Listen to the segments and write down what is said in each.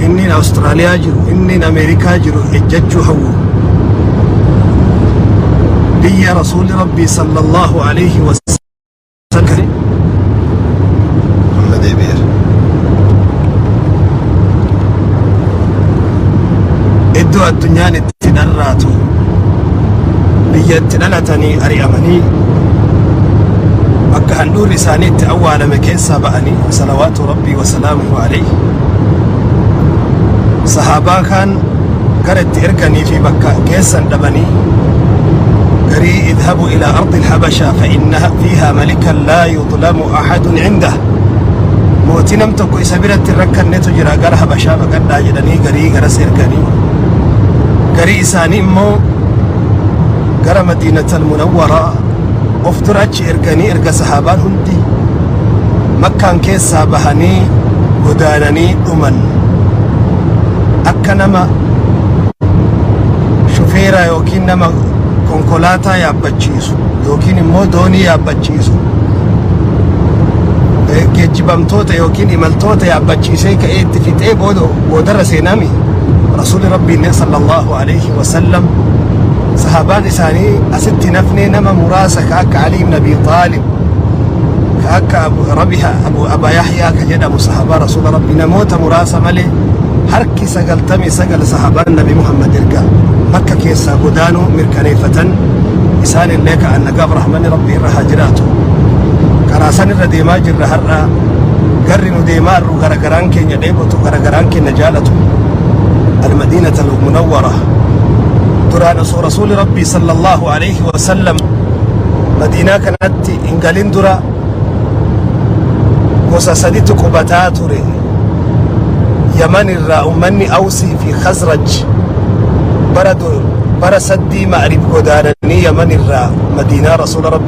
inniin Awustiraaliyaa jiru, inniin Ameerikaa jiru ejjachuu hawwu. Biyya Rasuulli Rabbii sallallahu alayhi wa sallam Amma deebi'eera. iddoo addunyaan itti dharraatu biyya itti dhalatanii ari'amanii bakka handhuurri isaanii itti awwaalame keessaa ba'anii salawaatu rabbii wasalaamuhu alayhi sahaabaa kaan gara itti erganii fi bakka geessan dhabanii garii idhabu ilaa ardi alhabashaa fa inna fiihaa malikan laa yudlamu ahadun cindah mootii nam tokko isa biratti hin rakkannetu jira gara habashaa baqadhaa jedhanii garii garas erganii garii isaanii immoo gara madiinatal munawwaraa of dura achi erganii erga sahaabaan hundi makkaan keessaa bahanii godaananii dhuman akka nama shufeeraa yookiin nama konkolaataa yaabbachiisu yookiin immoo doonii yaabbachiisu eh, geejjibamtoota yookiin imaltoota yaabbachiisee ka'ee itti fixee booda boodarra seenaami rasuuli rabbiin sallallahu sallallahu alayhi wa sallam sahabaan isaanii asitti hin hafnee nama muraasa ka akka Ali ibn Abi Talib ka akka Abu Rabiha Abu Aba Yahya ka jedhamu sahabaa Rasuula Rabbi namoota muraasa malee harki sagaltamii sagal sahabaan Nabi Muhammad erga makka keessaa godaanuu mirkaneeffatan isaan illee ka annagaaf rahmanni Rabbi irra haa jiraatu karaa san irra deemaa jirra har'a garri nu deemaa garagaraan keenya dheebotu garagaraan keenya jaalatu almadiinat almunawwara duraan osoo rasuuli rabbii sallallahu alayhi wasallam madiinaa kanatti hin galin dura gosa saditu qubataa ture yaman irraa ummanni awsii fi khazraj bara du- bara saddii ma'rib godaananii yaman irraa madiinaa rasuula rabbii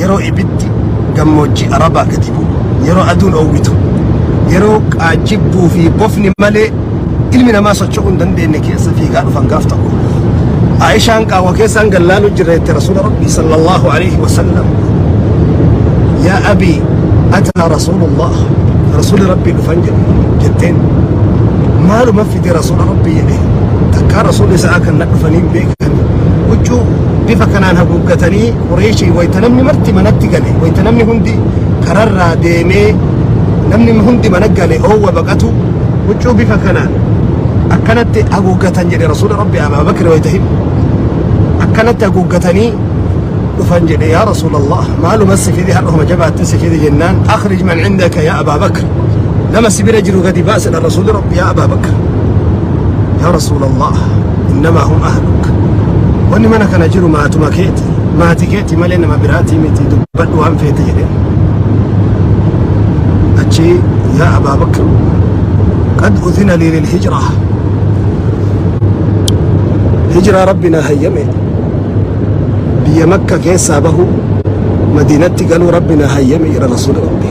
yeroo ibiddi gammoojjii Arabaa gadi bu'u, yeroo aduun oowwitu, yeroo qaajjibbuu fi bofni malee ilmi namaa socho'uu hin dandeenye keessa fiigaa dhufan gaaf tokko. Aishaan qaawwa keessaan gallaaluu jirra jette Rasuula Rabbii sallallahu alaihi wasallam. Yaa abii ataa Rasuulullah Rasuuli Rabbii dhufan jedhe jetteen. Maaluma fide Rasuula Rabbii jedhe takkaa Rasuuli isaa kan na dhufanii hin beekan. Huccuu bifa kanaan haguuggatanii Qureeshii wayta namni marti manatti gale, wayta namni hundi kararraa deemee namni hundi mana gale oowwa baqatu, huccuu bifa kanaan akkanatti haguuggatan jedhe Rasuula Rabbi Abaa Bakri wayta himu. Akkanatti haguuggatanii dhufan jedhe yaa Rasuulallah maaluma si fide har'a homa jabaatti si fide jennaan akhrij man indaka yaa Abaa Bakr nama si bira jiru gadi baasi dha Rasuuli Rabbi yaa Abaa Bakr. yaa rasuulallah innamaa hum ahluk wanni mana kana jiru maatuma keeti maati keeti malee nama biraatii miti dubbadhu waan feete jedhe achi yaa abaa bakr qad udhina lii lilhijra hijraa rabbi naa hayyame biyya makka keessaa bahu madiinatti galuu rabbi naa hayyame jedha rasuula rabbi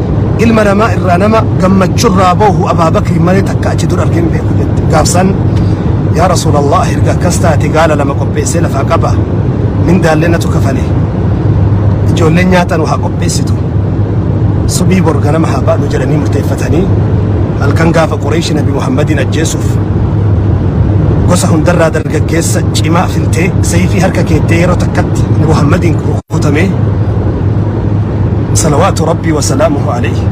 Ilma namaa irraa nama gammachurraa boohu Abaa Bakriin malee takka achi dura argee hin beeku jette. Gaafsan yaa Rasuulallah erga akkas taate gaala lama qopheessee lafaa qaba. Mindaallee natu kafale. Ijoolleen nyaata nu haa qopheessitu. Subii bor ganama haa baanu jedhanii murteeffatanii halkan gaafa Qureeshi Nabi Muhammadiin ajjeesuuf gosa hundarraa dargaggeessa cimaa filtee seeyfii harka keettee yeroo takkatti Muhammadiin rukutamee salawaatu rabbii wasalaamuhu alayhi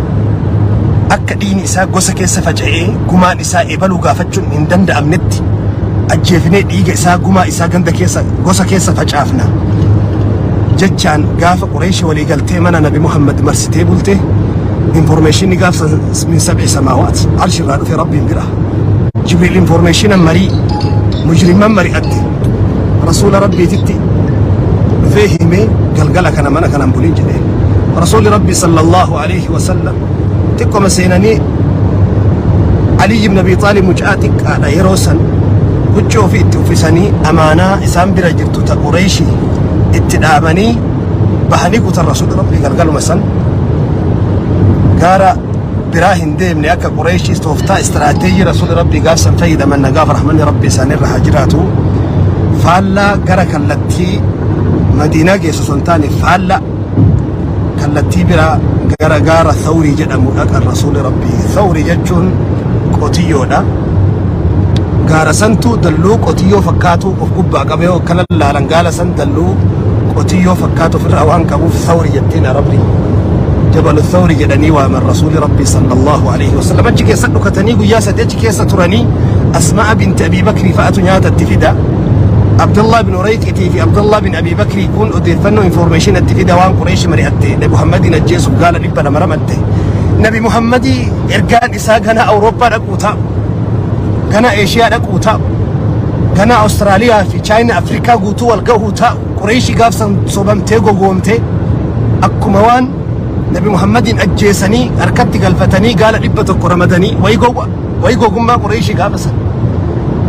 akka dhiini isaa gosa keessa faca'ee gumaan isaa ebaluu gaafachuun hin danda'amnetti ajjeefinee dhiiga isaa gumaa isaa ganda keessa gosa keessa facaafna jechaan gaafa qureeshi walii galtee mana nabi muhammad marsitee bulte informeeshinni gaafsa min sab'i samaawaat arshi irraa dhufe rabbiin bira jibriil informeeshina marii mujrimman mari'atte rasuula rabbiititti dhufee himee galgala kana mana kanan bulin jedhee rasuulli rabbi sallallahu alaihi wasallam xiqqoma seenanii aliyyi ibn abi xaalib mucaa xiqqaadha yeroo san huccuu ofii itti uffisanii amaanaa isaan bira jirtu ta qureeshi itti dhaabanii bahanii kutan rasuulli rabbi galgaluma san gaara biraa hin deemne akka Qureeshiis tooftaa istiraateejii Rasuulli Rabbii gaaf san fayyadaman nagaaf rahmanni Rabbii isaan irra haa jiraatu faallaa gara kallattii Madiinaa geessu osoo hin taane faallaa kallattii biraa gara gaara Thawrii jedhamu dhaqan Rasuulli Rabbii Thawrii jechuun qotiyyoodha gaara santu dalloo qotiyyoo fakkaatu of gubbaa qabee yoo akkana laalan gaala san Halluu qotiyyoo fakkaatu ofirraa waan qabuuf sawri jettiin arabni. Jabalu sawri jedhanii waaman rasuuli rabbii sallallahu alaihi wasallam achi keessa dhukatanii guyyaa sadii achi keessa turanii asma'a binti abii bakrii fa'atu nyaata itti fida. Abdullah bin Urayqitii fi Abdullah bin Abii Bakrii kun odeeffannoo information itti fida waan Qureeshi mari'atte Nabi Muhammadiin ajjeesuuf gaala dhibba lama ramatte. Nabi Muhammadii ergaan isaa ganaa Awurooppaa dhaquu ta'a. Ganaa Eeshiyaa dhaquu ta'a. Ganaa Awustiraaliyaa fi Chaayinaa Afrikaa guutuu wal gahuu ta'a. Qureeshii gaafsan sobamtee gogoomtee akkuma waan Nabi Muhammadiin ajjeesanii harkatti galfatanii gaala dhibba tokko ramadanii wayi gowwa wayi gogummaa Qureeshii gaafasan.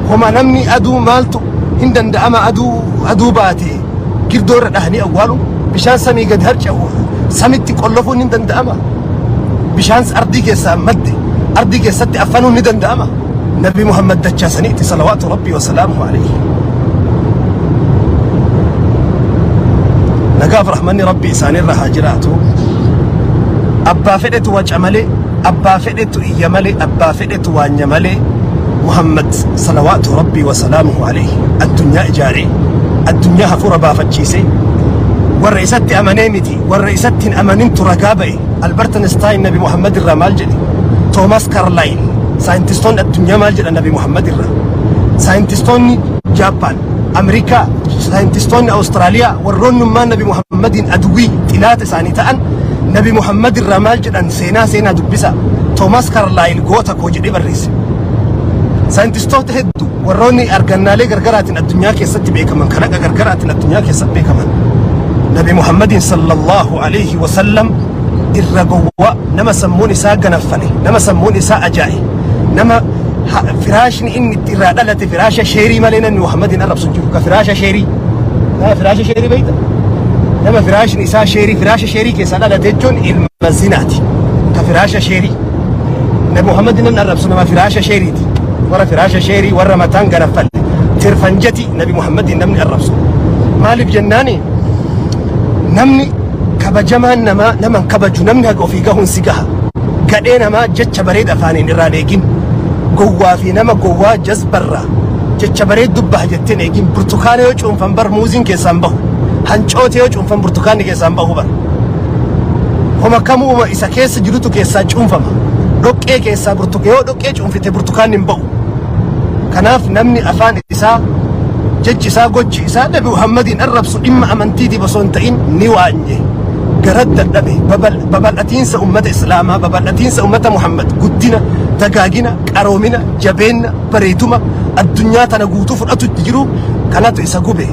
Homa namni aduu maaltu hin danda'ama aduu aduu baatee. girdoo irra dhahanii awwaalu bishaan samii gad harca'u samitti qollofuun ni danda'ama bishaan ardii keessaa madde ardii keessatti affanuun ni danda'ama nabi muhammad dachaa saniitti salawaatu rabbii wasalaamu alayhi nagaaf rahmanni rabbii isaanirra haa jiraatu abbaa fedhetu waca malee abbaa fedhetu iyya malee abbaa fedhe tu waanya malee Muhammad salawaatu rabbii wa salaamuhu alayhi addunyaa ijaare addunyaa hafuura baafachiise warra isatti amanee miti warra isatti hin amanintu ragaa ba'e Albert Einstein nabi Muhammad irraa maal jedhe Thomas Carlyle saayintistoonni addunyaa maal jedha nabi Muhammad irraa saayintistoonni Jaappaan Ameerikaa saayintistoonni Awustiraaliyaa warroonnummaan nabi Muhammadiin aduwii xilaata isaanii ta'an nabi Muhammad irraa maal jedhan seenaa seenaa dubbisa Toomaas Kaarlaayil goota koo jedhee barreesse. Saayintistoota hedduu warroonni argannaalee gargaraatiin addunyaa keessatti beekaman kalaqa gargaraatiin addunyaa keessatti beekaman Nabi Muhammadiin sallallahu alayhi wa sallam irra gowwaa nama sammuun isaa ganaffale nama sammuun isaa ajaa'i nama ha- firaashni inni itti irraa dhalate firaasha sheerii malee namni Muhammadiin arrabsu hin jiru ka firaasha sheerii nama firaasha sheerii beekta nama firaashni isaa sheerii firaasha Sheerii keessaa dhalate jechuun ilma zinaati. Ta firaasha sheerii. Nabi Muhammad namni arrabsu nama firaasha sheeriiti. Warra firaasha sheerii warra mataan garaffalle. Tirfanjati Nabi Muhammad namni arrabsu. Maaliif jennaani namni kabajamaan namaa nama hin kabaju namni haga ofii gahuun si gaha. Gadhee namaa jecha bareeda afaaniin irraan eegin. Gowwaa fi nama gowwaa jazbarraa jecha bareed dubbaha jetteen eegin. Burtukaana yoo cuunfan bar muuziin keessaan bahu. Hancoota yoo Afan burtukaanni keessaan bahu bara. Homa kamuuma isa keessa jirutu keessaa cuunfama. Dhoqqee keessaa burtuka yoo dhoqqee cuunfite burtukaanni hin bahu. Kanaaf namni afaan isaa jechi isaa gochi isaa Nabi Muhammadiin arrabsu dhimma amantiitiif osoo hin ta'in ni waanye. Gara dadhabe babal- babal'atiinsa ummata Islaamaa, babal'atiinsa ummata Muhammad, guddina, dagaagina, qaroomina, jabeenna, bareeduma addunyaa tana guutuu fudhatutti jiru kanatu isa gube.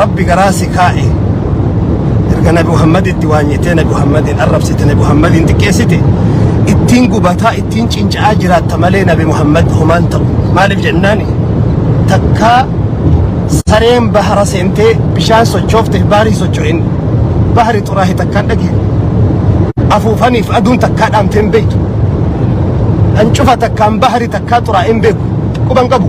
rabbi garaa si kaa'e erga nabi muhammaditti waanyitee nabi muhammadiin arrabsite nabi muhammadiin xiqqeessite ittiin gubataa ittiin cinca'aa jiraatta malee nabi muhammad homaan ta'u maaliif jennaani takkaa sareen bahara seentee bishaan sochoofte baarii socho'in bahari xuraahe takkaan dhagee afuufaniif aduun takkaa dhaamteen beektu hancufa takkaan bahari takkaa xuraa'een beeku quban qabu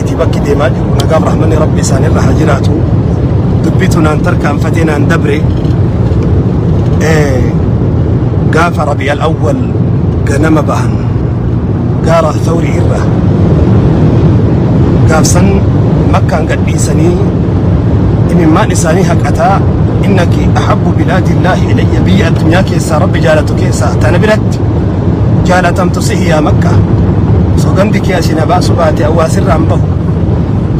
Itti bakki deemaa jiru nagaaf rahmanni rabbi isaanirra haa jiraatu. Dubbitu naan tarkaanfatee naan dabre. Eh, Gaafa rabi al-awwal ganama bahan gaara thawrii irra gaafsan makkaan gadhiisanii imimmaan isaanii haqataa innaki ahabbu bilaadillaahi ilayya biyya addunyaa keessaa rabbi jaalatu keessaa tana biratti jaalatamtu sihi yaa makka sogandi kee na baasu baate hawaasirraa hin bahu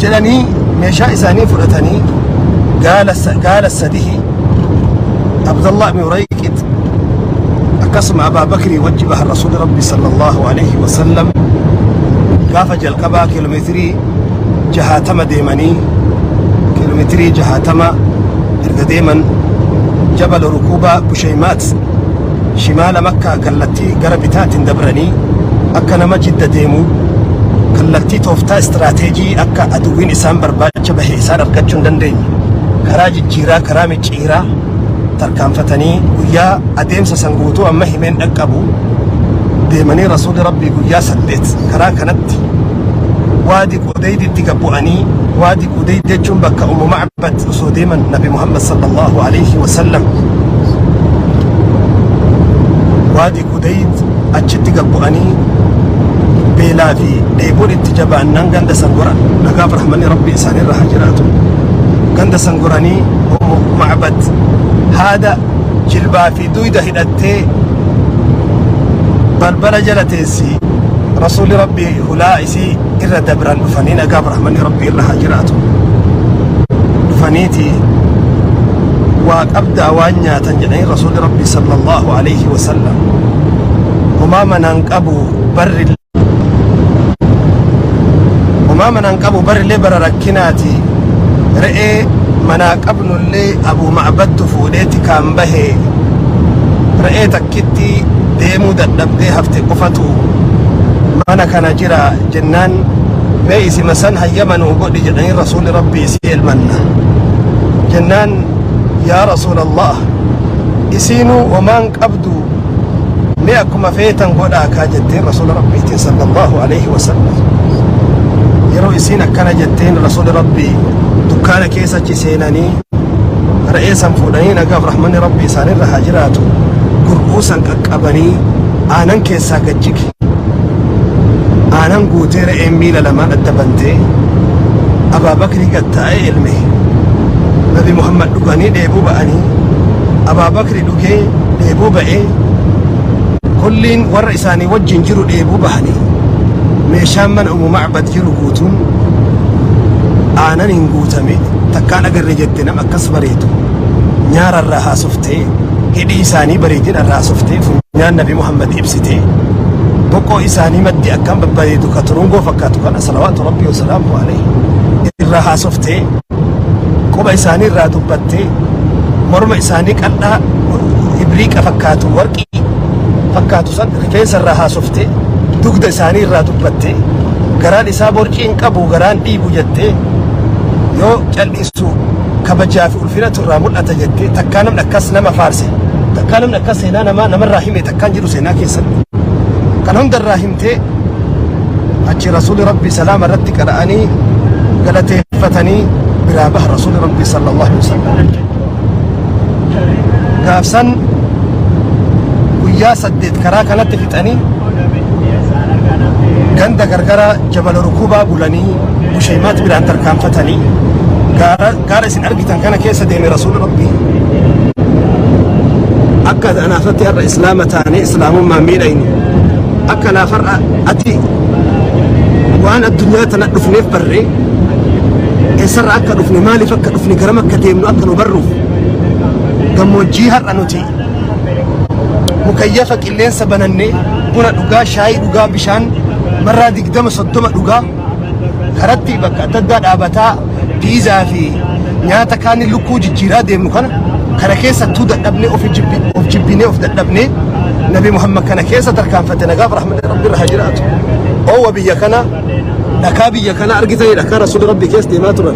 jedhanii meeshaa isaanii fudhatanii gaala sa- gaala sadihi abdallah ibn urayqit akkasuma abaa bakrii wajji bahan rasuuli rabbi sala allahu alayhi wasallam gaafa jalqabaa kiiloomeetirii jahaatama deemanii kiiloomeetirii jahaatama erga deeman jabala rukuubaa bushaymaat shimaala makkaa kallattii gara bitaatiin dabranii akka nama jidda deemu kallattii tooftaa istiraateejii akka aduwwiin isaan barbaacha bahe isaan argachuu hin dandeenye karaa jijjiiraa karaa micciiraa tarkaanfatanii guyyaa adeemsa san guutuu amma himeen dhaqqabu deemanii rasuulli rabbii guyyaa saddeet karaa kanatti waadi qudeyditti gabbu'anii waadi qudeydi jechuun bakka umu Bad osoo deeman Nabi Muhammad sallallahu alayhi wa sallam waadi Qudayd achitti gad bu'anii beelaa fi dheebuun itti jabaannaan ganda san goran nagaaf rahmanni rabbi isaanirra haa jiraatu ganda san goranii ummu ma'bad haada jilbaa fi duyda hidhattee balbala jala teessi rasuulli rabbi hulaa isii irra dabran dhufanii nagaa birahmanii rabbii irra haa jiraatu dhufaniiti waa qabdaa waan nyaatan jedhanii rasuuli rabbii sallallahu alaihi wasallam homaa manaan qabu barri homaa manaan qabu barrillee bara rakkinaati re'ee manaa qabnullee abuu ma'abattu fuudheeti kaan bahee re'ee takka bakkitti deemuu dadhabdee hafte qofatu mana kana jira jennaan mee isima san hayyama nuu godhi jedhanii rasuulli rabbii isii elmanna jennaan yaa rasuulallah isiinuu homaan qabdu mee akkuma feetan godhaa kaa jetteen rasuula rabbiitiin sallallahu alaihi wasallam yeroo isiin akkana jetteen rasuula rabbii dukkaana keessa achi seenanii re'ee san fuudhanii nagaaf rahmanni rabbi isaanirra haa jiraatu gurbuu san qaqqabanii aanan keessaa gad jige aanan guutee re'een miila lamaan adda bantee abaabakrii gad taa'ee ilme nabi muhammad dhuganii dheebuu ba'anii abaabakri dhugee dheebuu ba'ee kulliin warra isaanii wajjin jiru dheebuu bahanii meeshaan mana umu macbad jiru guutuun aanan hin guutame takkaan agarre jette nam akkas bareedu nyaara irraa haasoftee hidhii isaanii bareedina irraa haasoftee funyaan nabi muhammad ibsitee boqoo isaanii maddi akkaan babbareedu ka turungoo fakkaatu kana salawaatu rabbii wasalaamu alayhi irraa haasoftee quba isaanii irraa dubbattee morma isaanii qal'aa ibriiqa fakkaatu warqii fakkaatu san rifeensa irraa haasoftee dugda isaanii irraa dubbattee garaan isaa borcii hin qabu garaan dhiibu jettee yoo cal'isu kabajaa fi ulfinatu irraa mul'ata jettee takkaa namni akkas nama faarse takkaa namni akkas seenaa namaa namarraa hime takkaan jiru seenaa keessatti kan hundarraa hime dhaabattee achi rasuuli rabbii salaama irratti qara'anii galateeffatanii biraa baha rasuuli rabbii sallallahu alaihi wasallam gaafsan guyyaa saddeet karaa kanatti fixanii ganda gargaraa jabala rukubaa bulanii bushaymaat biraan tarkaanfatanii gaara gaara isin argitan kana keessa deeme rasuula rabbii akka anaafatti har'a islaama taane islaamummaa miidhayne akka anaaf har'a ati waan addunyaa tana dhufneef barree eessarra akka dhufne maaliif akka dhufne garam akka deemnu akka nu barruuf gammoojjii har'a nuti mukayyafa qilleensa banannee buna dhugaa shaayii dhugaa bishaan marraa digdama soddoma dhugaa karatti bakka adda addaa dhaabataa piizaa fi nyaata kaanii lukkuu jijjiiraa deemnu kana kana keessattuu dadhabnee of jibbi- of jibbinee of dadhabnee nabi muhammad kana keessa tarkaanfatte nagaaf rahmata rabbi irra haa jiraatu oowwa biyya kana dhakaa biyya kana argitanii dhakaa rasuula rabbi keessa deemaa turan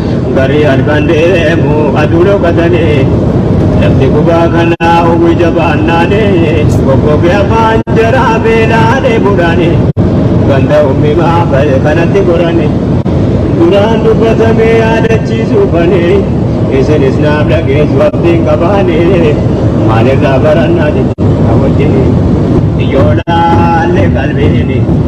Barii halkan deemu aduu dhokatanii lafti gubaa kanaa hawwi jabaannaanii goggogee afaan jaraa beelaa dheebuudhaanii ganda uumimaa ba'e kanatti goranii duraan dubbatamee yaadachiisuu banii isinis naaf dhageessu abdiin qabaanii maalirraa barannaa jechuudha wajjinii yoo laalle qalbiini.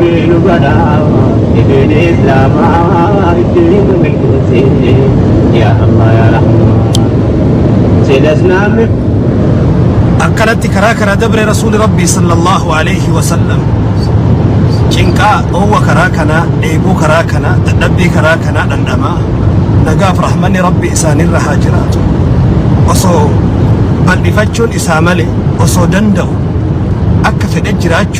Diinu kanaa diin islaamaa ittiin nu milkeessi yaa Allah yaa Rahmaan sila islaamni akkanatti karaa kana dabre rasuuli rabbii sallallahu alayhi wasallam cinqaa dhoowwa karaa kanaa dheebuu karaa kanaa dadhabbii karaa kanaa dhandhamaa nagaaf rahmanni rabbii isaanirra haa jiraatu osoo bal'ifachuun isaa malee osoo danda'u akka fedhe jiraachuu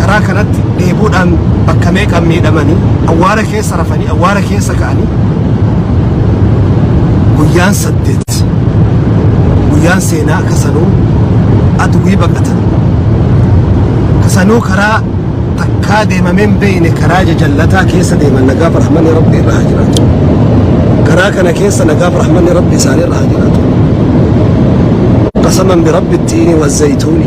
karaa kanatti dheebuudhaan bakka meeqa miidhamanii awwaara keessa rafanii awwaara keessa ka'anii guyyaan saddeet guyyaan seenaa kasanuu adwii baqatan kasanuu karaa takkaa deemamee hin beekne karaa jajallataa keessa deeman nagaaf rahmanni rabbi irra haa jiraatu karaa kana keessa nagaaf rahmanni rabbi isaanii irra haa jiraatu qasaman birabbi ittiini wazzaytuuni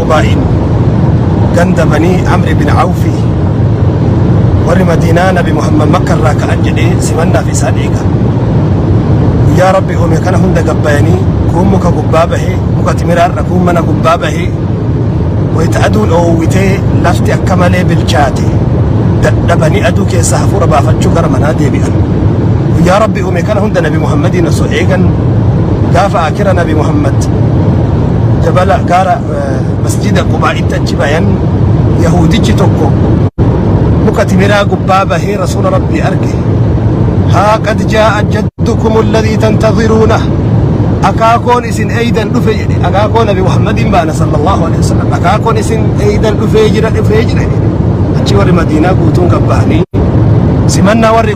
Qubaa'iin ganda banii Amri bin Awfi warri Madiinaa Nabi Muhammad Makka irraa ka'an jedhee simannaaf isaan eega. Guyyaa Rabbi uume kana hunda gabbayanii kuun muka gubbaa bahee muka timiraarra kuun mana gubbaa bahee wayita aduun oowwitee lafti akka malee bilchaate dadhabanii aduu keessaa hafuura baafachuu gara manaa deebi'an. Guyyaa Rabbi uume kana hunda nabi muhammadiin osoo eegan gaafa akira nabi muhammad jabala gaara eh, masjida qubaa'itti achi bayan yahuudichi tokko muka timiraa gubbaa bahee rasuula rabbii arge haa qad jaa'a jaddukum alladhii tantadhiruuna akaakoon isin eeydan dhufe jedhe akaakoo nabi muhammadiin baana sallallahu alaihi wasallam akaakoon isin eeydan dhufee jira dhufee jira jedhe achi warri madiinaa guutuun gabba'anii simannaa warri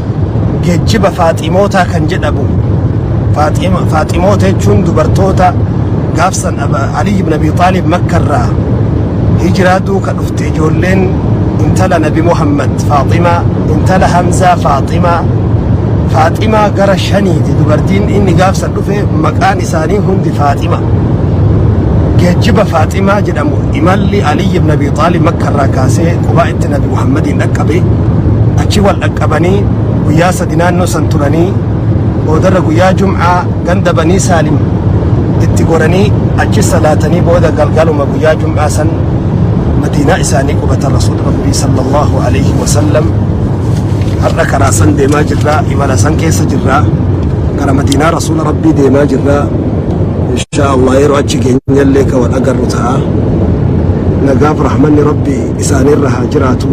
geejjiba Faaximootaa kan jedhamu Faaxima- Faaximoota jechuun dubartoota gaafsan Aba- Aliyyi ibn Abi Xaalib Makkarraa hijiraa duuka dhufte ijoolleen intala Nabi Muhammad Faaximaa intala Hamzaa Faaximaa Faaximaa gara shaniiti dubartiin inni gaafsan dhufe maqaan isaanii hundi Faaxima geejjiba Faaximaa jedhamu imalli Aliyyi ibn Abi Xaalib Makkarraa kaasee qubaa itti Nabi Muhammad Oromiyaatti dhaqqabe. Achi wal dhaqqabanii guyyaa sadi naannoo san turanii boodarra guyyaa Jum'aa ganda Banii Saalim itti goranii achi salaatanii booda galgaluma guyyaa Jum'aa san Madiinaa isaanii qubatan Rasuulli Rabbii sallallahu alaihi wasallam har'a karaa san deemaa jirra imala san keessa jirra gara Madiinaa Rasuula Rabbii deemaa jirra inshaa Allah yeroo achi geenyallee ka wal agarru ta'a nagaaf rahmanni Rabbii isaani irra haa jiraatu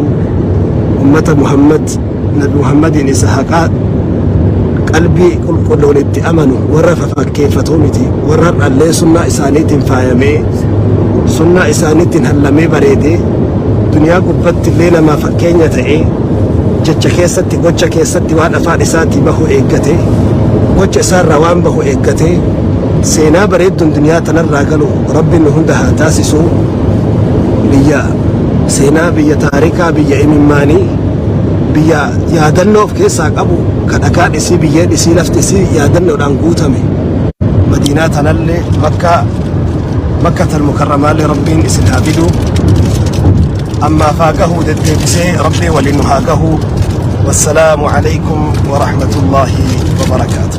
ummata muhammad nabi muhammadiin isa haqaa qalbii qulqulluun itti amanu warra fafakkeeffatu miti warra har'allee sunnaa isaaniitiin faayamee sunnaa isaaniitiin hallamee bareedee duniyaa gubbatti illee namaa fakkeenya ta'ee jecha keessatti gocha keessatti waan afaan isaatii bahu eeggate gocha isaarraa waan bahu eeggate seenaa bareedduun duniyaa tanarraa galu Rabbi nu hunda haa taasisu biyya seenaa biyya taarikaa biyya imimmaanii biyya yaadannoo of keessaa qabu ka dhakaa dhisii biyyee dhisii lafti isii yaadannoodhaan guutame madiinaa tanallee makkaa makka tal mukarramaallee rabbiin isin haa fidu ammaaf haa gahuu deddeebisee rabbii waliin nu haa gahuu wassalaamu alaykum warahmatullaahi wabarakaatu